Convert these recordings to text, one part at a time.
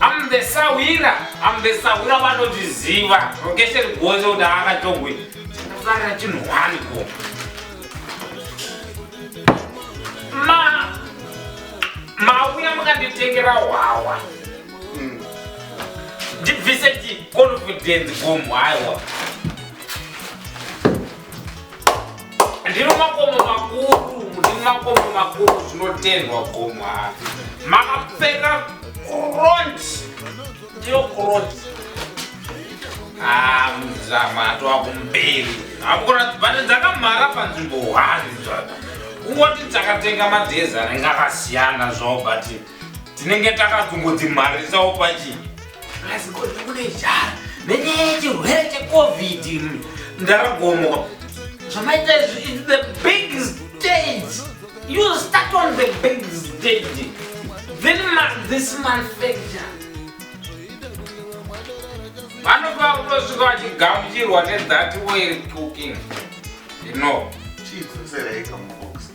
I'm the sahwira I'm the sahwira vanondiziva rokesheni gonzo kuti akatongwe chinofarira chinhu hwani ko ma mauya mukanditengera hwawa hmm. ndibvise chiconfidence gomhwaiwa ndiri makomo makuru ndiri makomo makuru zvinotendwa gomwa makapfeka kront ndiyo kront ah, muzama atova kumberi akuratibane dzakamhara panzvimbo hwani zvaka kungoti takatenga madhezi anenge akasiyana zvavo but tinenge takazongodzimharisawo pachii Guys, ko ndiri kune jara nenyaya yechirwere checovid iri ndaragomoka zvamaita izvi is the big stage you start on the big stage then ma, this manufacture vanobva kutosvika vachigamuchirwa nethati way cooking you know chiidzoseraika mubox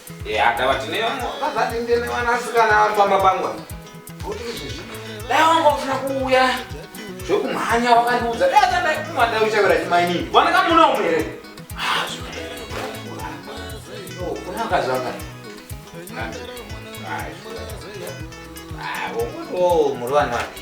Yeah, dawa tine wangu vazati ndine wanasikana vari pamba pangu apa. Kuti izvezvi dai wangu ufuna kuuya zvekumhanya wakandiudza dai atadai kumwa dai uchavira chimainini vana kamuna umwe here Ah, zvinoda. Oh, kuna mkazi wanga Ah, zvinoda. Ah, wongotiwo muri vanhu vadiki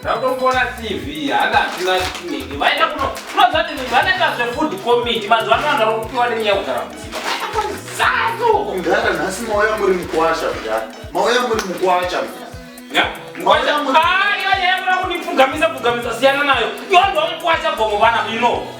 Ndakufona TV hana hatina chinenge vaenda kuno kunoziva kuti munhu anenge azve food committee mazuva ano vanhu vari kupiwa nenyaya yekugara mudzimba zano mdara nhasi mauya muri mukwasha mdara mauya muri mukwasha mkwasha mkwasha ayo yaiva kundipfugamisa pfugamisa siyana nayo yondwa mukwasha gomo vana ino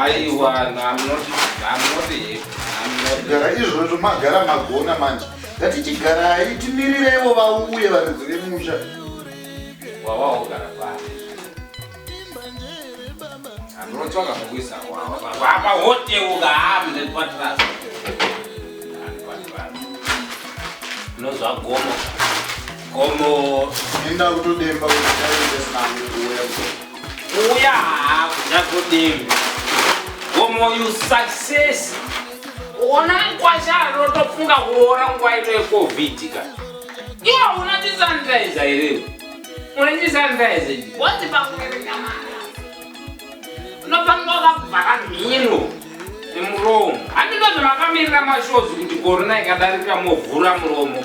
aiwa gara izvozvo magara magona manje ngati chigarai timirireiwo vauye varidzi vemusha nozvagomo gomo enda kutodemba kuti aiesnauuya Uya hako zvagodembe. Gomo you success. Ona mkwasha anotofunga kuroora nguva ino yeCovid ka. Iwa una tisanitizer here? Una tisanitizer. Wati pakuverenga mara. Unofanira wakavhara mhino nemuromo. Handinozi makamirira mashozi kuti korona ikadarika movhura muromo.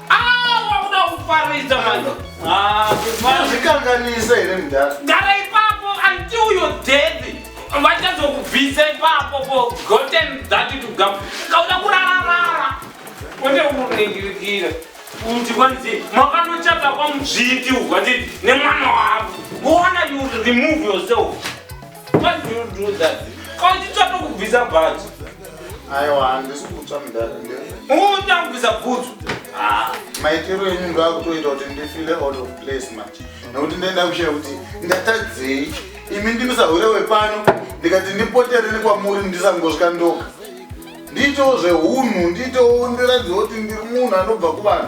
kuparidza manje azvikanganise here mudhara gara ipapo anti uyo dhedhi vachazokubvisa ipapo ko goten dhati tugam kauda kurararara one unoringirikira kuti kwanzi makanochata kwamudzviti ukwati nemwana wavo kuona you remove yourself Why do you do that? Kwanditsva tokubvisa bhaji. Aiwa handisi kutsva mudhara ndiye. Uta kubvisa bhutsu. Ah, maitiro enyu ndo akutoita kuti ndifile out of place manje. Nokuti ndaenda kushaya kuti ndatadzei. Imi ndimi sahure wepano ndikati ndipotere nekwamuri ndisangosvika ndoka. Ndiitewo zvehunhu, ndiitewo ndiratidze kuti ndiri munhu anobva kuvanhu.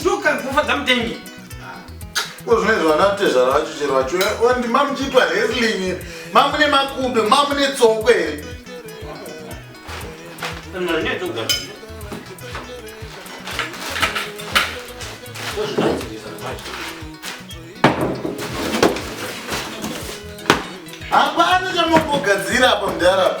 ndokanzofadza mutengi ko zvine zvanatezvara vacho chero vacho ondi eh, mamuchiitwa resling mamune makudo mamune tsoko here hapana chamambogadzira apa mudhara